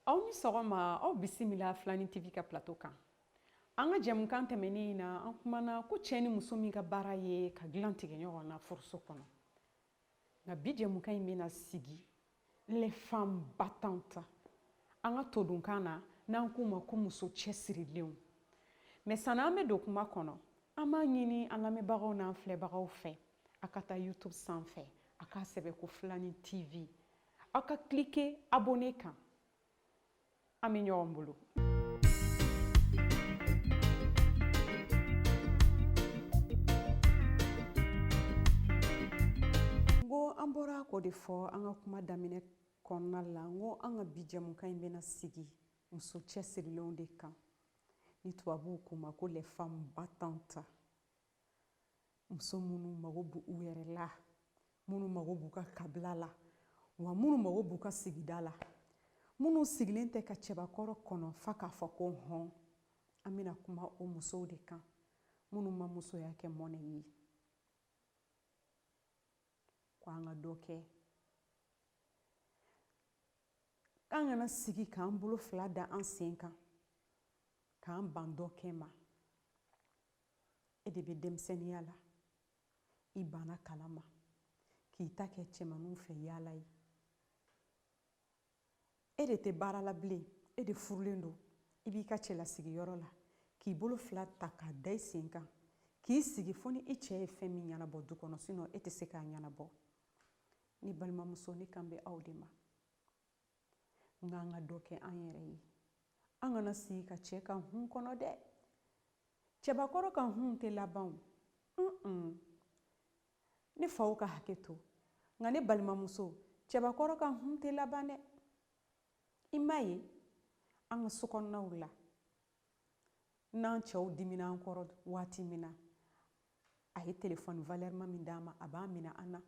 aw ni sɔgɔma aw bisimila filani tv ka plateau kan an ka jɛmukan tɛmɛnen in na an kumana ko cɛ ni muso min ka baara ye ka dilan tigɛ ɲɔgɔn na furuso kɔnɔ nka bi jɛmukan in bɛna sigi les femmes battantes an ka todunkan na n'an k'u ma ko muso cɛsirilenw mais sani an bɛ don kuma kɔnɔ an b'a ɲini an lamɛnbagaw n'an filɛbagaw fɛ a ka taa youtube sanfɛ a k'a sɛbɛn ko filani tv aw ka cliquer abonner kan an bɛ ɲɔgɔn bolo n ko an bɔra k'o de fɔ an ka kuma daminɛ kɔnɔna la n ko an ka bi jɛmukan in bɛna sigi muso cɛsirilenw de kan ni tubabuw k'u ma ko les femmes battantes muso minnu mago b'u yɛrɛ la minnu mago b'u ka kabila la wa minnu mago b'u ka sigida la minnu sigilen tɛ ka cɛbakɔrɔ kɔnɔ f'a k'a fɔ ko hɔn an bɛna kuma o musow de kan minnu ma musoya kɛ mɔnɛ ye ko an ka dɔ kɛ k'an kana sigi k'an bolo fila da an sen kan k'an ban dɔ kɛ ma E de bɛ denmisɛnniya la, i banna kalan ma, k'i ta kɛ cɛmanninw fɛ yaala ye. E de tɛ baara la bilen, e de furulen don, i b'i ka cɛlasigiyɔrɔ la, k'i bolo fila ta k'a da i sen kan, k'i sigi fo ni i cɛ ye fɛn min ɲɛnabɔ du kɔnɔ, sinon e tɛ se k'a ɲɛnabɔ. Ne balimamuso, ne kan bɛ aw de ma. nka an ka dɔ kɛ an yɛrɛ ye an kana sigi ka cɛ ka hun kɔnɔ dɛ cɛbakɔrɔ ka hun tɛ laban o ne faw ka hakɛ to nka ne balimamuso cɛbakɔrɔ ka hun tɛ laban dɛ i m'a ye an ka sokɔnɔnaw la n'an cɛw dimina an kɔrɔ waati min na a ye telefɔni valɛrima min d'an ma a b'a minɛ an na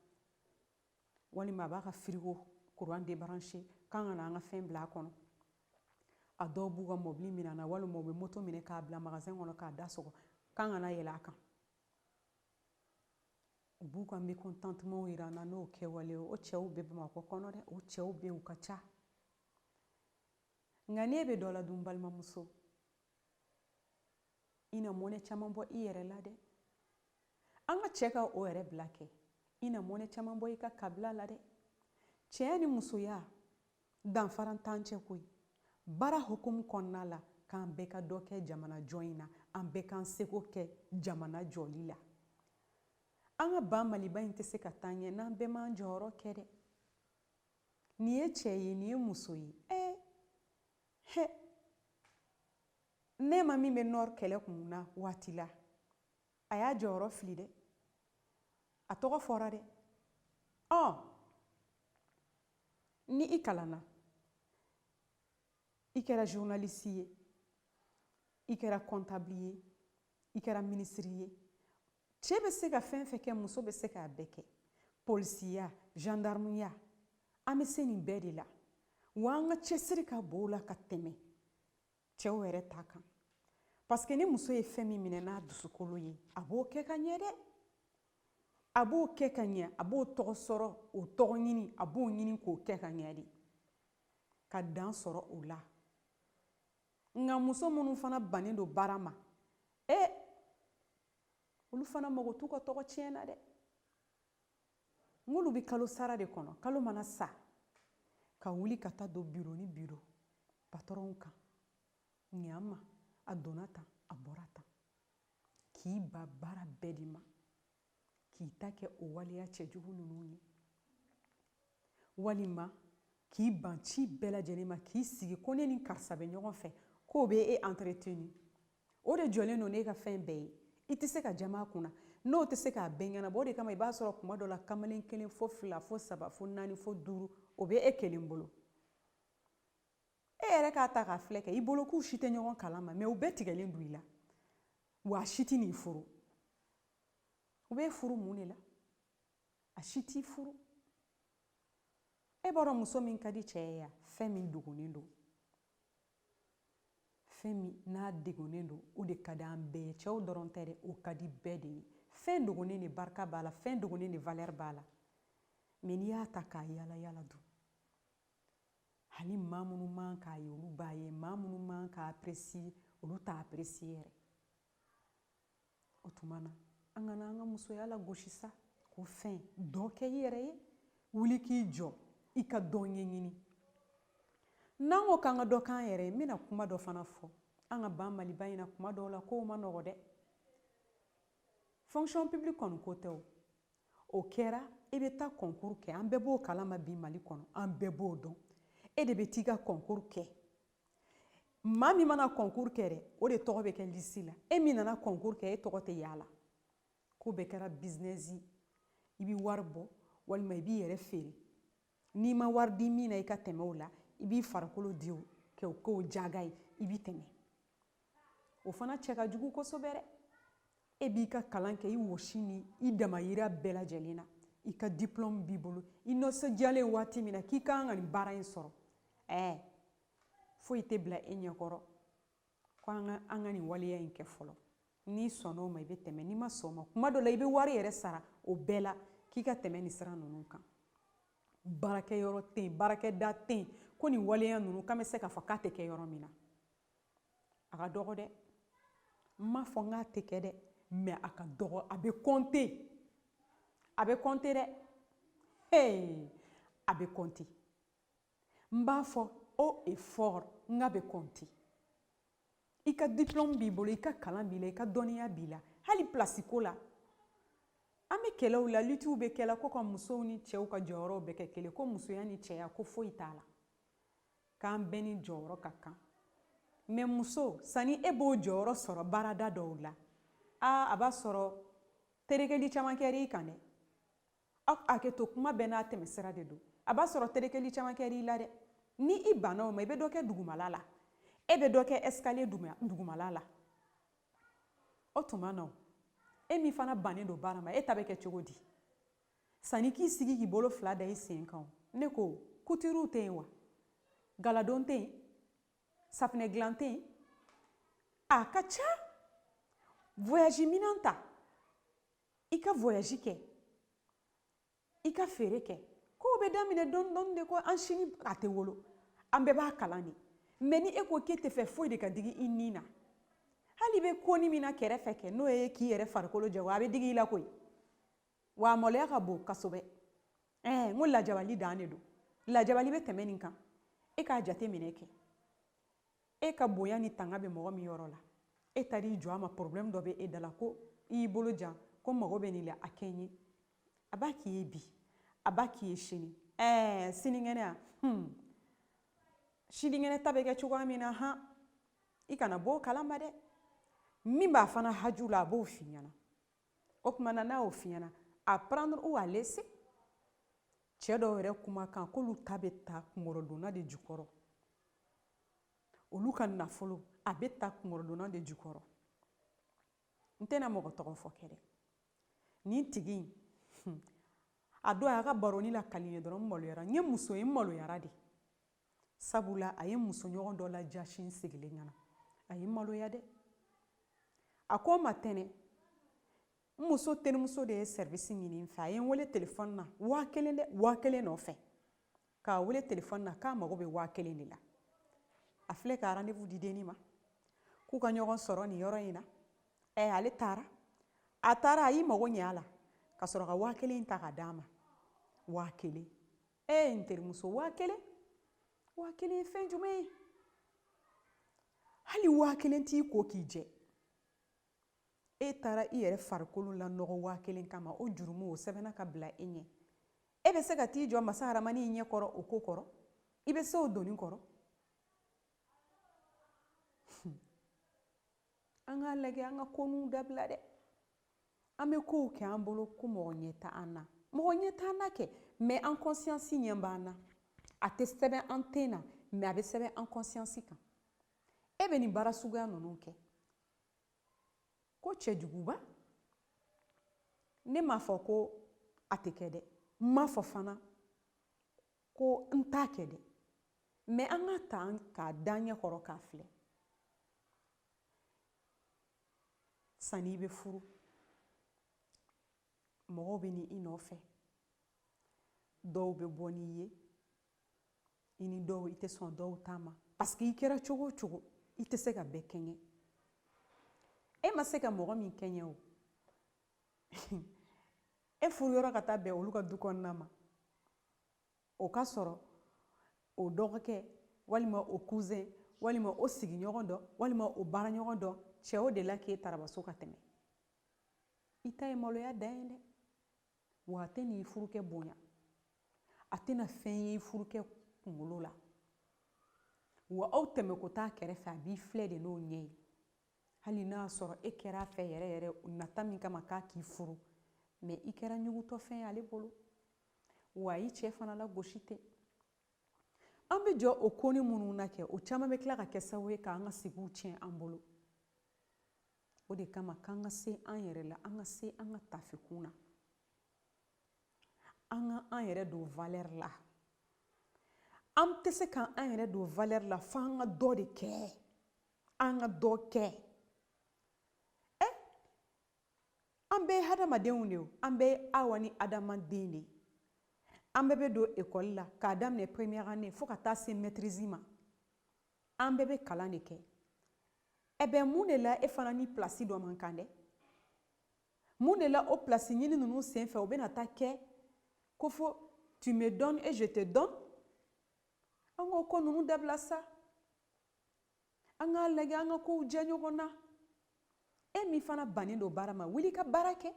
walima a b'a ka firigo kuran débrancher k'an kana an ka fɛn bila a kɔnɔ a dɔw b'u ka mɔbili minɛ an na walima u bɛ moto minɛ k'a bila magasɛn kɔnɔ k'a da sɔgɔ k'an kana yɛlɛ a kan u b'u ka mécontentement jira an na n'o kɛwale ye o cɛw bɛ bamakɔ kɔnɔ dɛ o cɛw bɛ yen u ka ca nka n'e bɛ dɔ la dun balimamuso i na mɔnɛ caman bɔ i yɛrɛ la dɛ an ka cɛko yɛrɛ bila kɛ i na mɔnɛ caman bɔ i ka kabila la dɛ cɛya ni musoya danfaran t'an cɛ koyi baara hukumu kɔnɔna la k'an bɛɛ ka dɔ kɛ jamana jɔ in na an bɛɛ k'an seko kɛ jamana jɔli la an ka ba maliba in tɛ se ka taa ɲɛ n'an bɛɛ m'an jɔyɔrɔ kɛ dɛ nin ye cɛ ye nin ye muso ye ɛɛ Hɛ Nɛma min bɛ nɔɔrɔ kɛlɛ kun na waati la a y'a jɔyɔrɔ filɛ dɛ a tɔgɔ fɔra dɛ ɔ ni i kalanna i kɛra journaliste ye i kɛra comptable ye i kɛra ministre ye cɛ bɛ se ka fɛn fɛn kɛ muso bɛ se k'a bɛɛ kɛ polisiya jandarmuya an bɛ se nin bɛɛ de la wa an ka cɛsiri ka bon o la ka tɛmɛ cɛw yɛrɛ ta kan paseke ni muso ye fɛn min minɛ n'a dusukolo ye a b'o kɛ ka ɲɛ dɛ a b'o kɛ ka ɲɛ a b'o tɔgɔ sɔrɔ o tɔgɔ ɲini a b'o ɲini k'o kɛ ka ɲɛ de ka dan sɔrɔ o la Nka muso minnu fana bannen don baara ma e olu fana mago t'u ka tɔgɔ tiɲɛ na dɛ n'olu bɛ kalo sara de kɔnɔ kalo mana sa ka wuli ka taa don biro ni biro patɔrɔnw kan nin y'an ma a donna tan a bɔra tan k'i ban baara bɛɛ de ma k'i ta kɛ o waleya cɛjugu ninnu ye walima k'i ban ci bɛɛ lajɛlen ma k'i sigi ko ne ni karisa bɛ ɲɔgɔn fɛ k'o bɛ e entretenu o de jɔlen don n'e ka fɛn bɛɛ ye i tɛ se ka jama a kunna n'o tɛ se k'a bɛɛ ɲɛnabɔ o de kama i b'a sɔrɔ kuma dɔ la kamalen kelen fo fila fo saba fo naani fo duuru o bɛ e kelen bolo e yɛrɛ k'a ta k'a filɛ kɛ i bolo k'u si tɛ ɲɔgɔn kalama mɛ u bɛɛ tigɛlen don i la wa a si tɛn'i furu U b'e furu mun de la a si t'i furu e b'a dɔn muso min ka di cɛ ye yan fɛn min dogonnen don fɛn min n'a degunnen don o de ka di an bɛɛ ye cɛw dɔrɔn tɛ dɛ o ka di bɛɛ de ye fɛn dogonnen de barika b'a la fɛn dogonnen de valɛri b'a la mɛ n'i y'a ta k'a yala yala dun hali maa minnu man k'a ye olu b'a ye maa minnu man k'a apprécier olu t'a apprécier yɛrɛ o tuma na an kana an ka musoya lagosi sa ko fɛn dɔ kɛ i yɛrɛ ye wuli k'i jɔ i ka dɔ ɲɛɲini n'an ko k'an ka dɔ k'an yɛrɛ ye n bɛna kuma dɔ fana fɔ an ka ba maliba in na kuma dɔw la kow ma nɔgɔ dɛ fonction publique kɔni ko tɛ o o kɛra i bɛ taa concours kɛ an bɛɛ b'o kalama bi mali kɔnɔ an bɛɛ b'o dɔn e de bɛ t'i ka concours kɛ maa min mana kɔnkuru kɛ dɛ o de tɔgɔ bɛ kɛ lisi la e min nana kɔnkuru kɛ e tɔgɔ tɛ y'a la ko bɛɛ kɛra bizinɛsi i bɛ wari bɔ walima i b'i yɛrɛ feere n'i ma wari di min na i ka tɛmɛ o la i b'i farikolo di o kɛ o k'o jago ye i bɛ tɛmɛ o fana cɛ ka jugu kosɛbɛ dɛ e b'i ka kalan kɛ i wɔsi ni i damayira bɛɛ lajɛlen na i ka diplɔmu b'i bolo i nisɔndiyalen waati min na k'i ka kan ka nin baara in sɔrɔ ɛɛ foyi tɛ bila e ɲɛkɔrɔ ko an ka an ka nin waleya in kɛ fɔlɔ n'i sɔnna o ma i bɛ tɛmɛ n'i ma sɔn o ma kuma dɔ la i bɛ wari yɛrɛ sara o bɛɛ la k'i ka tɛmɛ nin sira ninnu kan baarakɛyɔrɔ tɛ yen baarakɛda tɛ yen ko nin waleya ninnu k'an bɛ se k'a fɔ k'a tɛ kɛ yɔrɔ min na a ka dɔgɔ dɛ n m'a fɔ n k'a tɛ kɛ dɛ mɛ a ka dɔgɔ a bɛ kɔnte a bɛ kɔnte dɛ hey a bɛ kɔnte n b'a fɔ haut et fort n k'a bɛ kɔnte i ka diplôme b'i bolo i ka kalan b'i la i ka dɔnniya b'i la hali pilasi ko la an bɛ kɛlɛw la litiw bɛ kɛla ko ka musow ni cɛw ka jɔyɔrɔw bɛɛ kɛ kelen ko musoya ni cɛya ko foyi t'a la k'an bɛɛ ni jɔyɔrɔ ka kan mɛ muso sani e b'o jɔyɔrɔ sɔrɔ baarada dɔw la aa a b'a sɔrɔ terekeli caman kɛra i kan dɛ aw hakɛ to kuma bɛɛ n'a tɛmɛsira de don a b'a sɔrɔ terekeli caman kɛra i la dɛ ni i banna o ma i bɛ dɔ kɛ dugumala la e bɛ dɔ kɛ escalier dugumala la o tuma na e min fana bannen don baara ma e ta bɛ kɛ cogo di Sani k'i sigi k'i bolo fila da i sen kan ne ko kutiri tɛ yen wa galadon tɛ yen safinɛ dilan tɛ yen a ka ca voyage minɛn ta i ka voyage kɛ i ka feere kɛ kow bɛ daminɛ dɔɔni dɔɔni de ko an si ni a tɛ wolo an bɛɛ b'a kalan de mɛ ni e ko k'e t'a fɛ foyi de ka digi i ni na hali i bɛ koni min na kɛrɛfɛ kɛ n'o ye k'i yɛrɛ farikolo jago a bɛ digi i la koyi wa a maloya ka bon kosɛbɛ ɛɛ n ko lajabali dan de don lajabali bɛ tɛmɛ nin kan e k'a jate minɛ kɛ e ka bonya ni tanga bɛ mɔgɔ min yɔrɔ la e taara i jɔ a ma problème dɔ bɛ e da la ko i y'i bolo jan ko n mago bɛ nin la a kɛ n ye a b'a k'i ye bi a b'a k'i ye sini ɛɛ sinikɛnɛ a hmm. sinikɛnɛ ta bɛ kɛ cogoya min na han i kana bɔ o kalama dɛ min b'a fana haju la a b'o f'i ɲɛna o tuma na n'a y'o f'i ɲɛna à prendre ou à laisser cɛ dɔw yɛrɛ kumakan k'olu ta bɛ ta kunkɔrɔdonnan de jukɔrɔ olu ka nafolo a bɛ ta kunkɔrɔdonnan de jukɔrɔ n tɛna mɔgɔ tɔgɔ fɔ kɛ dɛ nin tigi in hmm, a don a y'a ka baroni lakali n ye dɔrɔn n maloyara n ye muso ye n maloyara de sabula a ye musoɲɔgɔn dɔ lajasi n sigilen ɲɛna a ye n maloya dɛ a ko n ma tɛnɛ n muso terimuso de ye sɛrivisi ɲini n fɛ a ye n wele telefɔni na waa kelen dɛ waa kelen nɔfɛ k'a wele telefɔni na k'a mago bɛ waa kelen de la a filɛ ka rendez-vous di denni ma k'u ka ɲɔgɔn sɔrɔ nin yɔrɔ in na ɛ ale taara a taara a y'i mago ɲɛ a la ka sɔrɔ ka waa kelen ta ka d'a ma waa kelen ee n terimuso waa kelen waa kelen ye fɛn jumɛn ye hali waa kelen t'i ko k'i jɛ e taara i yɛrɛ farikolo lanɔgɔ waa kelen kama o jurumu o sɛbɛnna ka bila i ɲɛ e bɛ se ka t'i jɔ masa haramani ɲɛ kɔrɔ o ko kɔrɔ i bɛ se o doni kɔrɔ an k'a lajɛ an ka koninw dabila dɛ an bɛ kow kɛ an bolo ko mɔgɔ ɲɛ tɛ an na mɔgɔ ɲɛ tɛ an na kɛ mɛ an kɔnsiyansi ɲɛ b'an na a tɛ sɛbɛn an ten na mɛ a bɛ sɛbɛn an kɔnsiyansi kan e bɛ nin baara suguya ninnu kɛ ko cɛjuguba ne m'a fɔ ko a tɛ kɛ dɛ n m'a fɔ fana ko n t'a kɛ dɛ mɛ an k'a ta k'a da an ɲɛ kɔrɔ k'a filɛ sanni i bɛ furu mɔgɔw bɛ na i nɔfɛ dɔw bɛ bɔ n'i ye i ni dɔw i tɛ sɔn dɔw ta ma paseke i kɛra cogo o cogo i tɛ se ka bɛɛ kɛɲɛ e ma se ka mɔgɔ min kɛɲɛ o e furu yɔrɔ ka taa bɛn olu ka du kɔnɔna ma o ka sɔrɔ o dɔgɔkɛ walima o kuzɛn walima o sigiɲɔgɔn dɔ walima o baaraɲɔgɔn dɔ cɛ o dela k'e tarabaso ka tɛmɛ i ta ye maloya dan ye dɛ wa a tɛna i furukɛ bonya a tɛna fɛn ye i furukɛ kunkolo la wa aw tɛmɛko t'a kɛrɛfɛ a b'i filɛ de n'o ɲɛ ye hali n'a sɔrɔ e kɛra a fɛ yɛrɛ yɛrɛ nata min kama k'a k'i furu mɛ i kɛra ɲugutɔfɛn ye ale bolo wa a y'i cɛ fana lagosi ten an bɛ jɔ o konin minnu na kɛ o caman bɛ tila ka kɛ sababu ye k'an ka sigiw tiɲɛ an bolo o de kama k'an ka se an yɛrɛ la an ka se an ka taafe kun na an ka an yɛrɛ don valɛri la an tɛ se k'an yɛrɛ don valɛri la fo an ka dɔ de kɛ an ka dɔ kɛ an bɛɛ ye hadamadenw de ye an bɛɛ ye awa ni adama den de ye an bɛɛ bɛ don ekɔli la k'a daminɛ première année fo ka taa se maîtrise ma an bɛɛ bɛ kalan de kɛ eh ben mun de la e fana ni pilasi dɔ man kan dɛ mun de la o pilasi ɲini ninnu senfɛ o bɛna taa kɛ ko fo tu me donnes et je te donne an k'o ko ninnu dabila sa an k'a lajɛ an ka kow diya ɲɔgɔn na e min fana bannen don baara ma wuli ka baara kɛ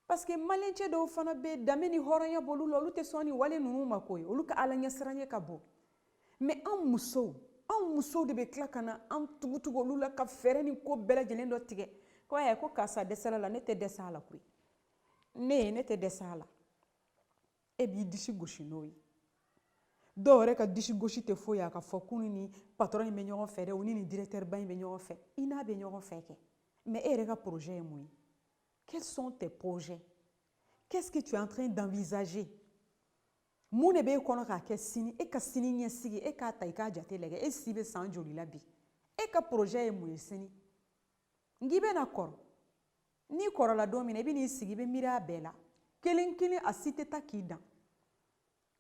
parce que malien cɛ dɔw fana bɛ danbe ni hɔrɔnya b'olu la olu tɛ sɔn ni wale ninnu ma koyi olu ka alaɲɛsiranɲɛ ka bon mais an musow anw musow de bɛ tila ka na an tugutugu olu la ka fɛɛrɛ ni ko bɛɛ lajɛlen dɔ tigɛ ko ayi ko karisa dɛsɛla la ne tɛ dɛsɛ a la koyi ne ne tɛ dɛsɛ a la e b'i disi gosi n'o ye dɔw yɛrɛ ka disi gosi tɛ foyi a ka fɔ k'u ni patɔrɔn in bɛ ɲɔgɔn fɛ dɛ u ni nin direkitɛriba in bɛ ɲɔgɔn fɛ i n'a bɛ ɲɔgɔn fɛ kɛ mais e yɛrɛ ka projet ye mun ye quels sont tes projets qu'est-ce que tu es en train d'envisager mun de b'e kɔnɔ k'a kɛ sini e ka sini ɲɛsigi e k'a ta i k'a jate lajɛ e si bɛ san joli la bi e ka projet ye mun ye sini nka i bɛna kɔrɔ n'i kɔrɔla don min na i bɛ n'i sigi i bɛ miiri a bɛɛ la kelen kelen a si tɛ taa k'i dan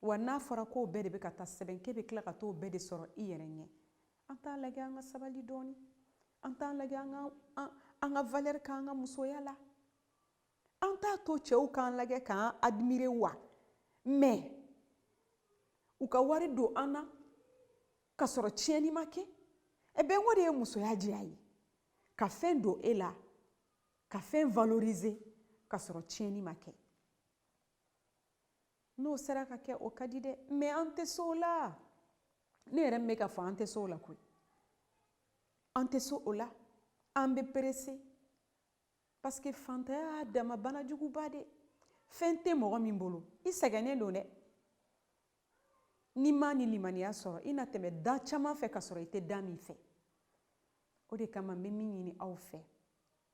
wa n'a fɔra k'o bɛɛ de bɛ ka taa sɛbɛn k'e bɛ tila ka t'o bɛɛ de sɔrɔ i yɛrɛ ɲɛ an t'a lajɛ an ka sabali dɔɔni an t'a lajɛ an ka an, an ka valeur k'an ka musoya la an t'a to cɛw k'an lajɛ k'an admirer wa mais u ka wari don an na ka sɔrɔ tiɲɛni ma kɛ eh ben o de ye musoya diya ye ka fɛn don e la ka fɛn valoriser ka sɔrɔ tiɲɛni ma kɛ n'o sera ka kɛ o ka di dɛ mais an tɛ se o la ne yɛrɛ min bɛ k'a fɔ an tɛ se o la koyi an tɛ se o la an bɛ pressé parce que fantanya y'a dama banajuguba de fɛn tɛ mɔgɔ min bolo i sɛgɛnnen don dɛ n'i m'a ni limaniya sɔrɔ i na tɛmɛ da caman fɛ ka sɔrɔ i tɛ da min fɛ o de kama n bɛ min ɲini aw fɛ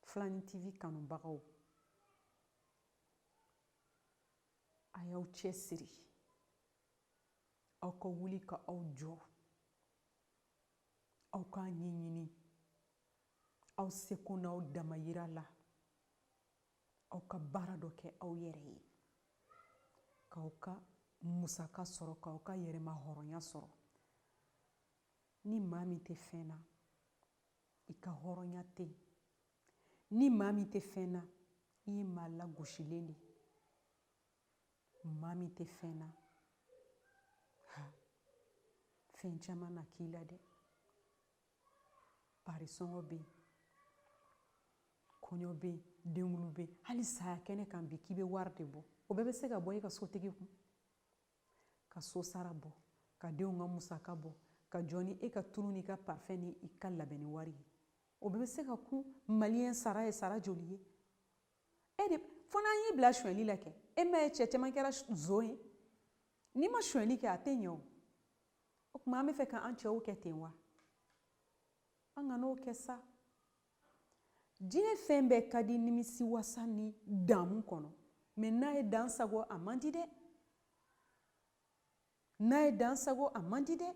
filani tv kanubagaw a y'aw cɛsiri aw ka wuli ka aw jɔ aw k'a ɲɛɲini aw seko n'aw damayira la aw ka baara dɔ kɛ aw yɛrɛ ye k'aw ka musaka sɔrɔ k'aw ka yɛrɛma hɔrɔnya sɔrɔ ni maa min tɛ fɛn na i ka hɔrɔnya tɛ yen ni maa min tɛ fɛn na i ye maa lagosilen de ye maa min tɛ fɛn na ha fɛn caman na k'i la dɛ pari sɔngɔ bɛ yen kɔɲɔ bɛ yen denkundi bɛ yen hali saya kɛnɛ kan bi k'i bɛ wari de bɔ o bɛɛ bɛ se ka bɔ e ka sotigi kun ka so sara bɔ ka denw ka musaka bɔ ka jɔ ni e ka tulu n'i ka parfum ni i ka labɛnni wari ye o bɛɛ bɛ se ka kun maliyɛn sara ye sara joli ye e de fo n'an y'i bila sonyɛli la kɛ e m'a ye cɛ caman kɛra nson ye n'i ma sonyɛli kɛ a tɛ ɲɛ o o tuma an bɛ fɛ k'an cɛw kɛ ten wa an kan'o kɛ sa diɲɛ fɛn bɛɛ ka di nimisi wasa ni damu kɔnɔ mais n'a ye dan sago a man di dɛ n'a ye dan sago a man di dɛ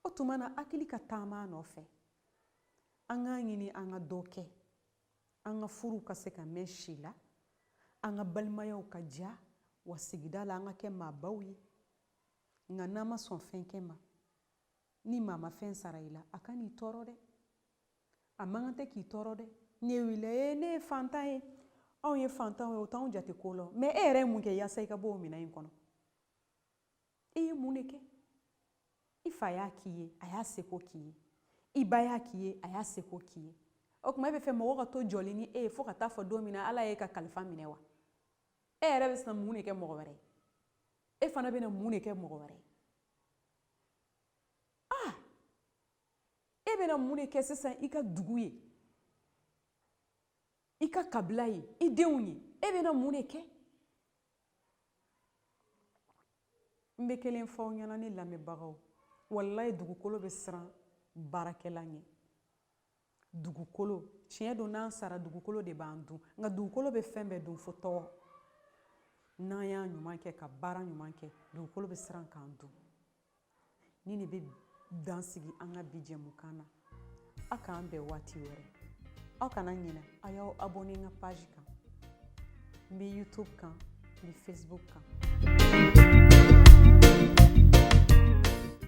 o tuma na hakili ka taama nɔfɛ an k'a ɲini an ka dɔ kɛ an ka furuw ka se ka mɛn si la an ka balimayaw ka diya wa sigida la an ka kɛ maabaw ye Nka n'a ma sɔn fɛn kɛ ma, ni maa ma fɛn sara i la, a kan'i tɔɔrɔ dɛ. A man kan tɛ k'i tɔɔrɔ dɛ. Ne wulila, ee, ne ye faantan ye. Anw ye faantanw ye, o t'anw jate ko la. Mais e yɛrɛ ye mun kɛ yaasa i ka bɔ o minɛn in kɔnɔ? E ye mun de kɛ? I fa y'a k'i ye, a y'a seko k'i ye. I ba y'a k'i ye, a y'a seko k'i ye. O tuma e bɛ fɛ mɔgɔw ka to jɔlen ni e ye fo ka taa fo don min na Ala y'e ka kalifa minɛ wa? e yɛrɛ bɛ sina mun de kɛ mɔgɔ wɛrɛ e fana bɛna mun de kɛ mɔgɔ wɛrɛ ah e bɛna mun de kɛ sisan i ka dugu ye i ka kabila ye i denw ye e bɛna mun de kɛ n bɛ kelen fɔ aw ɲɛna ne lamɛnbagaw walayi dugukolo bɛ siran baarakɛla ɲɛ dugukolo tiɲɛ don n'an sara dugukolo de b'an dun nka dugukolo bɛ fɛn bɛɛ dun fo tɔgɔ n'an y'a ɲuman kɛ ka baara ɲuman kɛ dugukolo bɛ siran k'an dun nin de bɛ dan sigi an ka bi jɛmukan na aw k'an bɛn waati wɛrɛ aw kana ɲinɛ a y'aw abonné n ka page kan n bɛ youtube kan n bɛ facebook kan